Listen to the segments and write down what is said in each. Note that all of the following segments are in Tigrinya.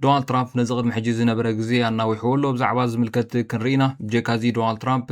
ዶናልድ ትራምፕ ነዚ ቅድሚ ሕጂ ዝነበረ ግዜ ኣናዊሕዎ ኣሎ። ብዛዕባ ዝምልከት ክንርኢ ኢና። ብጀካዚ ዶናልድ ትራምፕ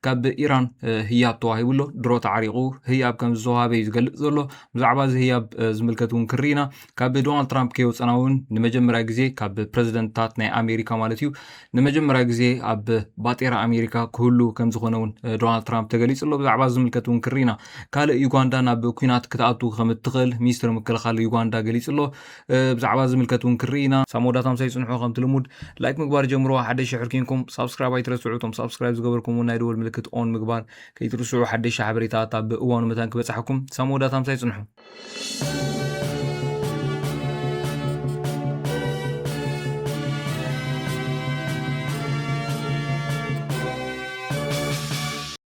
ካብ ኢራን ህያብ ተዋሂቡ ኣሎ። ድሮ ተዓሪቑ ህያብ ከም ዝተዋሃበ እዩ ዝገልጽ ዘሎ። ብዛዕባ እዚ ህያብ ዝምልከት እውን ክንርኢ ኢና። ካብ ዶናልድ ትራምፕ ከይወጸና እውን ንመጀመርያ ግዜ ካብ ፕረዚደንትታት ናይ ኣሜሪካ ማለት እዩ ንመጀመርያ ግዜ ኣብ ባጤራ ኣሜሪካ ክህሉ ከም ዝኾነ እውን ዶናልድ ትራምፕ ተገሊጹ ኣሎ። ብዛዕባ ዝምልከት እውን ክንርኢ ኢና። ካልእ ዩጋንዳ ናብ ኩናት ክትኣቱ ከም እትኽእል ሚኒስትሪ ምክልኻል ዩጋንዳ ገሊጹ ኣሎ። ብዛዕባ ዝምልከት ውን ክንርኢ ኢና። ክሳብ መወዳእታ ምሳይ ጽንሑ ከምቲ ልሙድ ላይክ ምግባር ጀምርዋ ሓደሽ ሽሑር ኬንኩም ሳብስክራይብ ኣይትረስዑ እቶም ሳብስክራይብ ዝገበርኩም ውን ናይ ደወል ምልክት ኦን ምግባር ከይትርስዑ ሓደሽ ሓበሬታ ኣታ ብእዋኑ መታን ክበጽሓኩም ክሳብ መወዳእታ ምሳይ ጽንሑ።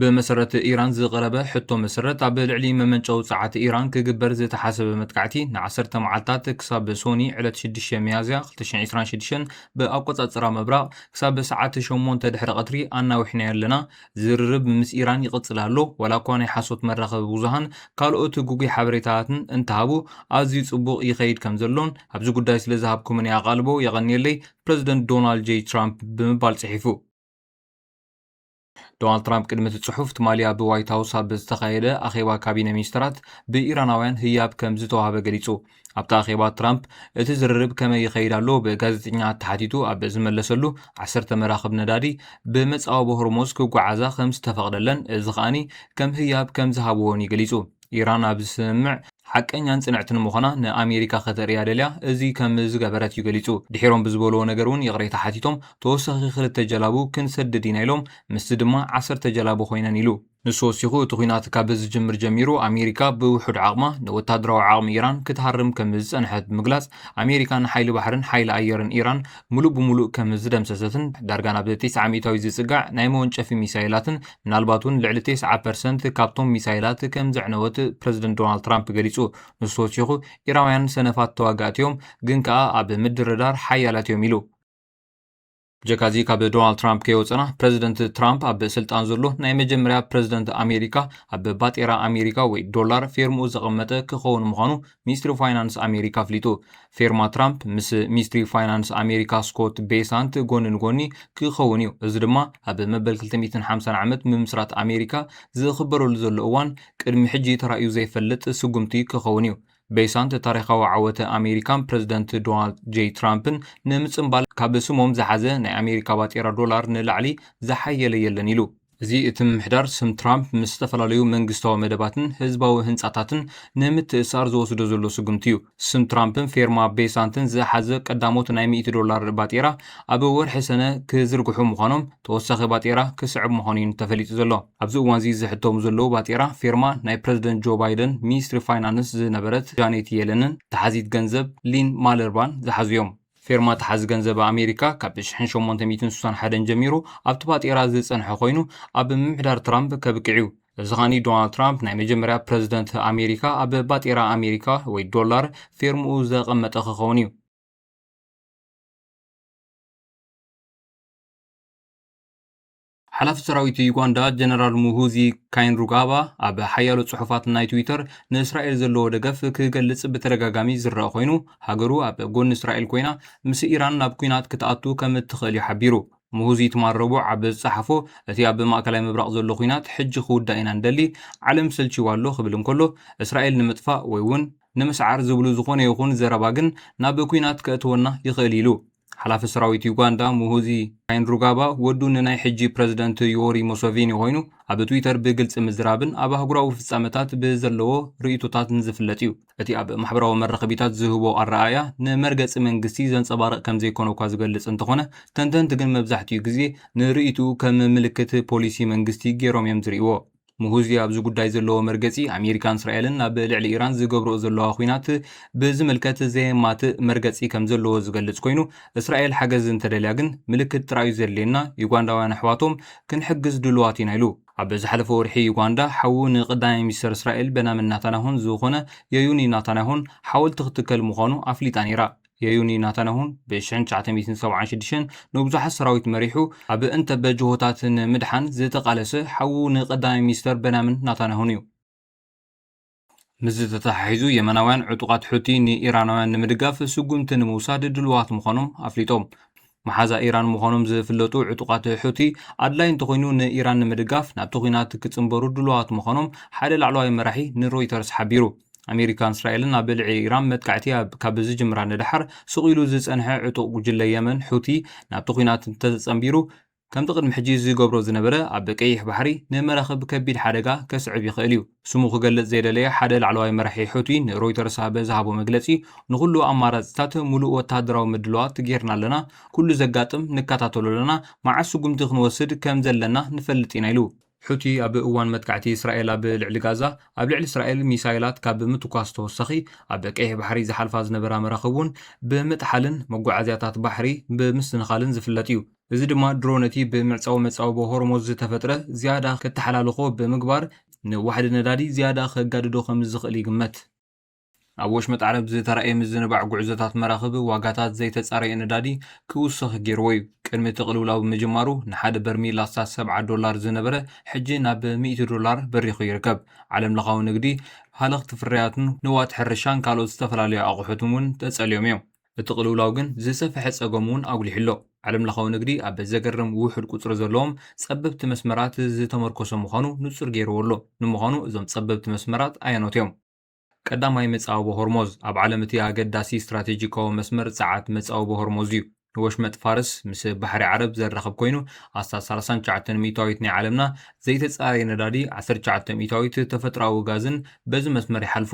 ብመሰረት ኢራን ዝቐረበ ሕቶ መሰረት ኣብ ልዕሊ መመንጨዊ ጸዓት ኢራን ክግበር ዝተሓሰበ መጥቃዕቲ ንዓሰርተ መዓልታት ክሳብ ሶኒ ዕለት 6 ሚያዝያ 2026 ብኣቆጻጽራ ምብራቕ ክሳብ ሰዓት 8 ድሕሪ ቀትሪ ኣናዊሕናዮ ኣለና። ዝርርብ ምስ ኢራን ይቕጽል ኣሎ። ዋላ እኳ ናይ ሓሶት መራኸቢ ብዙሃን ካልኦት ግጉይ ሓበሬታታትን እንተሃቡ ኣዝዩ ጽቡቕ ይኸይድ ከም ዘሎን ኣብዚ ጉዳይ ስለ ዝሃብኩምኒ ኣቓልቦ የቐንየለይ ፕረዚደንት ዶናልድ ጀይ ትራምፕ ብምባል ጽሒፉ። ዶናልድ ትራምፕ ቅድሚ እቲ ጽሑፍ ትማሊ ኣብ ዋይት ሃውስ ኣብ ዝተኻየደ ኣኼባ ካቢነ ሚኒስትራት ብኢራናውያን ህያብ ከም ዝተዋህበ ገሊጹ። ኣብቲ ኣኼባ ትራምፕ እቲ ዝርርብ ከመይ ይኸይድ ኣሎ ብጋዜጠኛታት ተሓቲቱ ኣብ ዝመለሰሉ ዓሰርተ መራኽብ ነዳዲ ብመጻወቦ ሆርሞዝ ክጓዓዛ ከም ዝተፈቕደለን እዚ ከኣኒ ከም ህያብ ከም ዝሃብዎን እዩ ገሊጹ። ኢራን ኣብዚ ስምምዕ ሓቀኛን ጽንዕትን ምዃና ንኣሜሪካ ከተርእያ ደልያ እዚ ከም ዝገበረት እዩ ገሊጹ። ድሒሮም ብዝበልዎ ነገር እውን ይቕሬታ ሓቲቶም፣ ተወሳኺ ክልተ ጀላቡ ክንሰድድ ኢና ኢሎም፣ ምስዚ ድማ ዓሰርተ ጀላቡ ኰይነን ኢሉ። ንሱ ወሲኹ፣ እቲ ኲናት ካብ ዝጅምር ጀሚሩ ኣሜሪካ ብውሑድ ዓቕማ ንወተሃደራዊ ዓቕሚ ኢራን ክትሃርም ከም ዝጸንሐት ብምግላጽ፣ ኣሜሪካ ንሓይሊ ባሕርን ሓይሊ ኣየርን ኢራን ምሉእ ብምሉእ ከም ዝደምሰሰትን ዳርጋ ናብ ቴስዓ ሚእታዊት ዝጽጋዕ ናይ መወንጨፊ ሚሳይላትን ምናልባት እውን ልዕሊ ቴስዓ ፐርሰንት ካብቶም ሚሳይላት ከም ዘዕነወት ፕረዚደንት ዶናልድ ትራምፕ ገሊጹ። ንሱ ወሲኹ፣ ኢራውያን ሰነፋት ተዋጋእቲ እዮም፣ ግን ከኣ ኣብ ምድርዳር ሓያላት እዮም ኢሉ። ብጀካዚ ካብ ዶናልድ ትራምፕ ከይወጸና፣ ፕረዚደንት ትራምፕ ኣብ ስልጣን ዘሎ ናይ መጀመርያ ፕረዚደንት ኣሜሪካ ኣብ ባጤራ ኣሜሪካ ወይ ዶላር ፌርምኡ ዘቐመጠ ክኸውን ምዃኑ ሚኒስትሪ ፋይናንስ ኣሜሪካ ኣፍሊጡ። ፌርማ ትራምፕ ምስ ሚኒስትሪ ፋይናንስ ኣሜሪካ ስኮት ቤሳንት ጎኒ ንጎኒ ክኸውን እዩ፣ እዚ ድማ ኣብ መበል 250 ዓመት ምምስራት ኣሜሪካ ዝኽበረሉ ዘሎ እዋን ቅድሚ ሕጂ ተራእዩ ዘይፈልጥ ስጉምቲ ክኸውን እዩ። ቤሳንት ታሪኻዊ ዓወት ኣሜሪካን ፕረዚደንት ዶናልድ ጀይ ትራምፕን ንምጽንባል ካብ ስሞም ዝሓዘ ናይ ኣሜሪካ ባጤራ ዶላር ንላዕሊ ዝሓየለ የለን ኢሉ። እዚ እቲ ምምሕዳር ስም ትራምፕ ምስ ዝተፈላለዩ መንግስታዊ መደባትን ህዝባዊ ህንጻታትን ንምትእስሳር ዝወስዶ ዘሎ ስጉምቲ እዩ። ስም ትራምፕን ፌርማ ቤሳንትን ዝሓዘ ቀዳሞት ናይ ሚእቲ ዶላር ባጤራ ኣብ ወርሒ ሰነ ክዝርግሑ ምዃኖም ተወሳኺ ባጤራ ክስዕብ ምዃኑ'ዩ ተፈሊጡ ዘሎ። ኣብዚ እዋን'ዚ ዝሕተሙ ዘለዉ ባጤራ ፌርማ ናይ ፕረዚደንት ጆ ባይደን ሚኒስትሪ ፋይናንስ ዝነበረት ጃኔት የለንን ተሓዚት ገንዘብ ሊን ማለርባን ዝሓዙ'ዮም። ፌርማታ ሓዚ ገንዘብ ኣሜሪካ ካብ ሽሕን ሸሞንተ ሚእትን ስሳን ሓደን ጀሚሩ ኣብቲ ባጤራ ዝጸንሐ ኮይኑ ኣብ ምምሕዳር ትራምፕ ከብቅዕ'ዩ። እዚ ከኣኒ ዶናልድ ትራምፕ ናይ መጀመርያ ፕረዚደንት ኣሜሪካ ኣብ ባጤራ ኣሜሪካ ወይ ዶላር ፌርምኡ ዘቐመጠ ክኸውን እዩ። ሓላፊ ሰራዊት ዩጋንዳ ጀነራል ሙሁዚ ካይንሩጋባ ኣብ ሓያሎ ጽሑፋት ናይ ትዊተር ንእስራኤል ዘለዎ ደገፍ ክገልጽ ብተደጋጋሚ ዝረኣ ኮይኑ ሃገሩ ኣብ ጎኒ እስራኤል ኮይና ምስ ኢራን ናብ ኩናት ክትኣቱ ከም እትኽእል እዩ ሓቢሩ። ሙሁዚ ትማል ረቡዕ ኣብ ዝጸሓፎ እቲ ኣብ ማእከላይ ምብራቕ ዘሎ ኩናት ሕጂ ክውዳእ ኢና ንደሊ፣ ዓለም ሰልቺዋ ኣሎ ክብል እንከሎ እስራኤል ንምጥፋእ ወይ'ውን ንምስዓር ዝብሉ ዝኾነ ይኹን ዘረባ ግን ናብ ኩናት ከእትወና ይኽእል ኢሉ። ሓላፊ ሰራዊት ዩጋንዳ ሙሁዚ ካይንሩጋባ ወዱ ንናይ ሕጂ ፕረዚደንት ዮወሪ ሙሰቪኒ ኮይኑ ኣብ ትዊተር ብግልጺ ምዝራብን ኣብ ኣህጉራዊ ፍጻመታት ብዘለዎ ርእይቶታትን ዝፍለጥ እዩ። እቲ ኣብ ማሕበራዊ መራኸቢታት ዝህቦ ኣረኣእያ ንመርገጺ መንግስቲ ዘንጸባርቕ ከምዘይኮነ'ኳ ዝገልጽ እንተኾነ ተንተንቲ ግን መብዛሕትኡ ግዜ ንርእይትኡ ከም ምልክት ፖሊሲ መንግስቲ ገይሮም እዮም ዝርእይዎ። ሙሁዚ ኣብዚ ጉዳይ ዘለዎ መርገጺ ኣሜሪካን እስራኤልን ኣብ ልዕሊ ኢራን ዝገብርኦ ዘለዋ ኩናት ብዝምልከት ዘየማትእ መርገጺ ከም ዘለዎ ዝገልጽ ኮይኑ እስራኤል ሓገዝ እንተደልያ ግን ምልክት ጥራዩ ዘድልየና ዩጋንዳውያን ኣሕዋቶም ክንሕግዝ ድሉዋት ኢና ኢሉ። ኣብ ዝሓለፈ ወርሒ ዩጋንዳ ሓዉ ንቀዳማይ ሚኒስተር እስራኤል በናምን ናታንያሁን ዝኾነ የዩኒ ናታንያሁን ሓወልቲ ክትከል ምዃኑ ኣፍሊጣ ነይራ። የዩኒ ናታናሁን ብ ሽሕን ትሽዓተ ሚእትን ሰብዓን ሽዱሽተን ንብዙሓት ሰራዊት መሪሑ ኣብ እንተበ ጅሆታት ን ምድሓን ዝተቓለሰ ሓዉ ን ቀዳማይ ሚኒስተር በናምን ናታናሁን እዩ። ምስዚ ተተሓሒዙ የመናውያን ዕጡቓት ሑቲ ን ኢራናውያን ንምድጋፍ ስጉምቲ ንምውሳድ ድሉዋት ምዃኖም ኣፍሊጦም። መሓዛ ኢራን ምዃኖም ዝፍለጡ ዕጡቓት ሑቲ፣ ኣድላዪ እንተዀይኑ ንኢራን ንምድጋፍ ናብቲ ኲናት ክጽንበሩ ድሉዋት ምዃኖም ሓደ ላዕለዋይ መራሒ ንሮይተርስ ሓቢሩ። ኣመሪካን እስራኤልን ኣብ ልዕሊ ኢራን መጥቃዕቲ ካብ ዝጅምራ ንደሓር ስቕ ኢሉ ዝጸንሐ ዕጡቕ ጕጅለ የመን ሑቲ፣ ናብቲ ኲናት እንተተጸንቢሩ፣ ከምቲ ቅድሚ ሕጂ ዝገብሮ ዝነበረ ኣብ ቀይሕ ባሕሪ ንመራኽብ ከቢድ ሓደጋ ከስዕብ ይኽእል እዩ። ስሙ ክገልጽ ዘይደለየ ሓደ ላዕለዋይ መራሒ ሑቲ ንሮይተርስ ኣብ ዝሃቦ መግለጺ፣ ንዅሉ ኣማራጺታት ምሉእ ወተሃደራዊ ምድላዋት ገይርና ኣለና፣ ኵሉ ዘጋጥም ንከታተሎ ኣለና፣ መዓስ ስጕምቲ ክንወስድ ከም ዘለና ንፈልጥ ኢና ኢሉ። ሑቲ ኣብ እዋን መጥቃዕቲ እስራኤል ኣብ ልዕሊ ጋዛ፣ ኣብ ልዕሊ እስራኤል ሚሳይላት ካብ ምትኳስ ተወሳኺ፣ ኣብ ቀይሕ ባሕሪ ዝሓልፋ ዝነበራ መራኽብ እውን ብምጥሓልን መጓዓዝያታት ባሕሪ ብምስንኻልን ዝፍለጥ እዩ። እዚ ድማ ድሮ ነቲ ብምዕጻው መጻብቦ ሆርሞዝ ዝተፈጥረ ዝያዳ ከተሓላልኾ ብምግባር ንዋሕዲ ነዳዲ ዝያዳ ከጋድዶ ከምዝኽእል ይግመት። ኣብ ወሽመጥ ዓረብ ዝተራእየ ምዝንባዕ ጉዕዞታት መራኽብ፣ ዋጋታት ዘይተጻረየ ነዳዲ ክውሰኽ ገይርዎ'ዩ። ቅድሚ እቲ ቅልውላው ምጅማሩ፣ ንሓደ በርሚል ኣስታት ሰብዓ ዶላር ዝነበረ፣ ሕጂ ናብ ሚእቲ ዶላር በሪኹ ይርከብ። ዓለምለኻዊ ንግዲ፣ ሃለኽቲ ፍርያትን ንዋት ሕርሻን ካልኦት ዝተፈላለዩ ኣቑሑትን'ውን ተጸልዮም'ዮም። እቲ ቅልውላው ግን ዝሰፈሐ ጸገም እውን ኣጉሊሑ ኣሎ። ዓለምለኻዊ ንግዲ ኣብ ዘገርም ውሑድ ቁጽሪ ዘለዎም ጸበብቲ መስመራት ዝተመርኮሰ ምዃኑ ንጹር ገይርዎ ኣሎ። ንምዃኑ እዞም ጸበብቲ መስመራት ኣየኖት እዮም? ቀዳማይ መጻብቦ ሆርሞዝ፣ ኣብ ዓለም እቲ ኣገዳሲ ስትራቴጂካዊ መስመር ጸዓት መጻብቦ ሆርሞዝ እዩ። ንወሽመጥ ፋርስ ምስ ባሕሪ ዓረብ ዘራኽብ ኮይኑ፣ ኣስታት ሳላሳን ትሽዓተን ሚእታዊት ናይ ዓለምና ዘይተጻረየ ነዳዲ፣ ዓሰርተ ትሽዓተ ሚእታዊት ተፈጥሮኣዊ ጋዝን በዚ መስመር ይሓልፉ።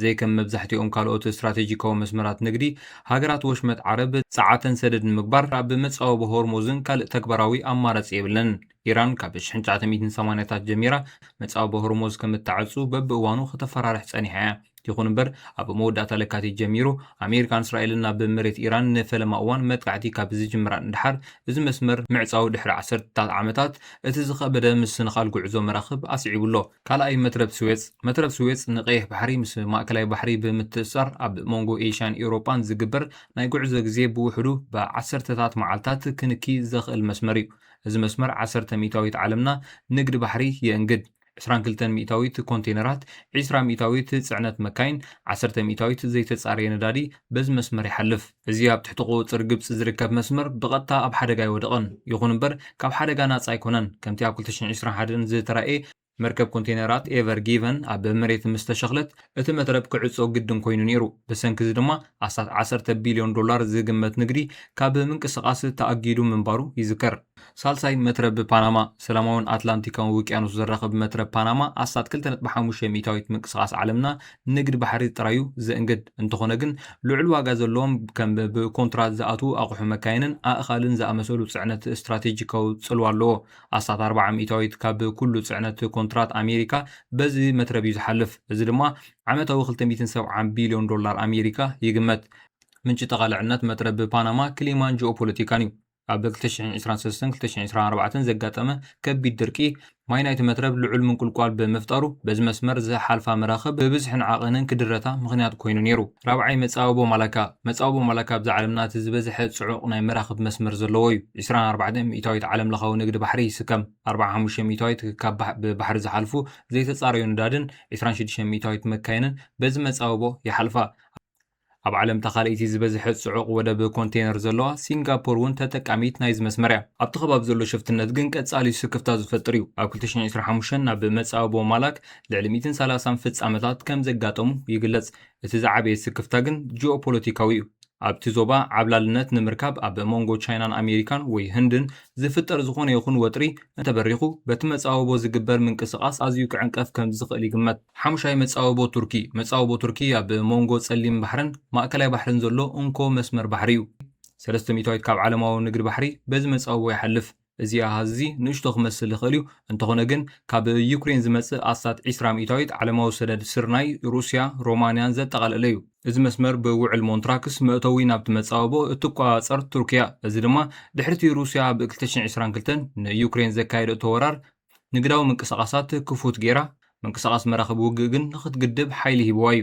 ዘይከም መብዛሕትኦም ካልኦት ስትራቴጂካዊ መስመራት ንግዲ፣ ሃገራት ወሽመጥ ዓረብ ጸዓተን ሰደድ ንምግባር ኣብ መጻወቢ ሆርሙዝን ካልእ ተግባራዊ ኣማራጺ የብለንን። ኢራን ካብ ሽሕን ትሽዓተ ሚእትን ሰማንያታት ጀሚራ መጻወቢ ሆርሙዝ ከም እተዕጹ በብእዋኑ ከተፈራርሕ ጸኒሓ እያ። ይኹን እምበር፣ ኣብ መወዳእታ ለካቲት ጀሚሩ ኣሜሪካን እስራኤልን ናብ መሬት ኢራን ንፈለማ እዋን መጥቃዕቲ ካብ ዝጅምራን ድሓር እዚ መስመር ምዕጻዉ ድሕሪ ዓሰርተታት ዓመታት እቲ ዝኸበደ ምስንኻል ጉዕዞ መራኽብ ኣስዒቡ ኣሎ። ካልኣይ መትረብ ስዌጽ፣ መትረብ ስዌጽ ንቀይሕ ባሕሪ ምስ ማእከላይ ባሕሪ ብምትእስሳር ኣብ መንጎ ኤሽያን ኤውሮጳን ዝግበር ናይ ጉዕዞ ግዜ ብውሕዱ ብዓሰርተታት መዓልታት ክንኪ ዘኽእል መስመር እዩ። እዚ መስመር ዓሰርተ ሚእታዊት ዓለምና ንግድ ባሕሪ የእንግድ። ዕስራን ክልተን ሚእታዊት ኮንቴነራት፣ ዒስራ ሚእታዊት ጽዕነት መካይን፣ ዓሰርተ ሚእታዊት ዘይተጻረየ ነዳዲ በዚ መስመር ይሓልፍ። እዚ ኣብ ትሕቲ ቁጽጽር ግብጺ ዝርከብ መስመር ብቐጥታ ኣብ ሓደጋ ኣይወደቐን፣ ይኹን እምበር ካብ ሓደጋ ናጻ ኣይኮነን፣ ከምቲ ኣብ ክልተ ሽሕን ዕስራን ሓደን ዝተራእየ፣ መርከብ ኮንቴነራት ኤቨር ጊቨን ኣብ መሬት ምስ ተሸኽለት እቲ መትረብ ክዕጾ ግድን ኮይኑ ነይሩ፣ ብሰንኪ እዚ ድማ ኣስታት ዓሰርተ ቢልዮን ዶላር ዝግመት ንግዲ ካብ ምንቅስቓስ ተኣጊዱ ምንባሩ ይዝከር። ሳልሳይ መትረብ ፓናማ፣ ሰላማውን ኣትላንቲካውን ውቅያኖስ ዘራኽብ መትረብ ፓናማ ኣስታት ክልተ ነጥቢ ሓሙሽተ ሚእታዊት ምንቅስቓስ ዓለምና ንግድ ባሕሪ ጥራዩ ዘእንግድ። እንተኾነ ግን ልዑል ዋጋ ዘለዎም ከም ብኮንትራት ዝኣትዉ ኣቑሑ መካይንን ኣእኻልን ዝኣመሰሉ ጽዕነት ስትራቴጂካዊ ጽልዋ ኣለዎ። ኣስታት ኣርብዓ ሚእታዊት ካብ ኩሉ ጽዕነት ኮንትራት ኣሜሪካ በዚ መትረብዩ ዝሓልፍ። እዚ ድማ ዓመታዊ ክልተ ሚእትን ሰብዓን ቢልዮን ዶላር ኣሜሪካ ይግመት። ምንጪ ጠቓልዕነት መትረብ ፓናማ ክሊማን ጂኦፖለቲካንዩ። ኣብ 2023ን 2024ን ዘጋጠመ ከቢድ ድርቂ፣ ማይ ናይቲ መትረብ ልዑል ምንቁልቋል ብምፍጣሩ፣ በዚ መስመር ዝሓልፋ መራኽብ ብብዝሕን ዓቐንን ክድረታ ምኽንያት ኮይኑ ነይሩ። ራብዓይ፣ መጻብቦ ማላካ። መጻብቦ ማላካ ኣብዛ ዓለምና እቲ ዝበዝሐ ጽዑቕ ናይ መራኽብ መስመር ዘለዎ እዩ። ዕስራን ኣርባዕተን ሚእታዊት ዓለምለኻዊ ንግዲ ባሕሪ ይስከም። ኣርብዓን ሓሙሽተን ሚእታዊት ክካብ ብባሕሪ ዝሓልፉ ዘይተጻረዩ ነዳድን፣ ዕስራን ሽዱሽተን ሚእታዊት መካይንን በዚ መጻብቦ ይሓልፋ። ኣብ ዓለም እታ ካልኣይቲ ዝበዝሐ ጽዑቕ ወደብ ኮንተይነር ዘለዋ ሲንጋፖር እውን ተጠቃሚት ናይዚ መስመር እያ። ኣብቲ ከባቢ ዘሎ ሽፍትነት ግን ቀጻሊ ስክፍታ ዝፈጥር እዩ። ኣብ ክልተ ሽሕን ዕስራን ሓሙሽተን ናብ መጻብቦ ማላክ ልዕሊ ሚእትን ሰላሳን ፍጻመታት ከም ዘጋጠሙ ይግለጽ። እቲ ዝዓበየ ስክፍታ ግን ጂኦፖለቲካዊ እዩ። ኣብቲ ዞባ ዓብላልነት ንምርካብ ኣብ መንጎ ቻይናን ኣሜሪካን ወይ ህንድን ዝፍጠር ዝኾነ ይኹን ወጥሪ እንተበሪኹ፣ በቲ መጻብቦ ዝግበር ምንቅስቓስ ኣዝዩ ክዕንቀፍ ከም ዝኽእል ይግመት። ሓሙሻይ መጻብቦ ቱርኪ፣ መጻብቦ ቱርኪ ኣብ ሞንጎ ጸሊም ባሕርን ማእከላይ ባሕርን ዘሎ እንኮ መስመር ባሕሪ እዩ። ሰለስተ ሚእታዊት ካብ ዓለማዊ ንግዲ ባሕሪ በዚ መጻብቦ ይሓልፍ። እዚ ኣሃዝ እዚ ንእሽቶ ክመስል ይኽእል እዩ፣ እንተኾነ ግን ካብ ዩክሬን ዝመጽእ ኣስታት ዕስራ ሚእታዊት ዓለማዊ ሰደድ ስርናይ፣ ሩስያ፣ ሮማንያን ዘጠቓለለ እዩ። እዚ መስመር ብውዕል ሞንትራክስ መእተዊ ናብቲ መጻብቦ እትቆጻጸር ቱርኪ እያ፣ እዚ ድማ ድሕሪ'ቲ ሩስያ ኣብ ክልተ ሽሕን ዕስራን ክልተን ንዩክሬን ዘካየደቶ ወራር ንግዳዊ ምንቅስቓሳት ክፉት ገይራ፣ ምንቅስቓስ መራኽብ ውግእ ግን ንኽትግድብ ሓይሊ ሂብዋ እዩ።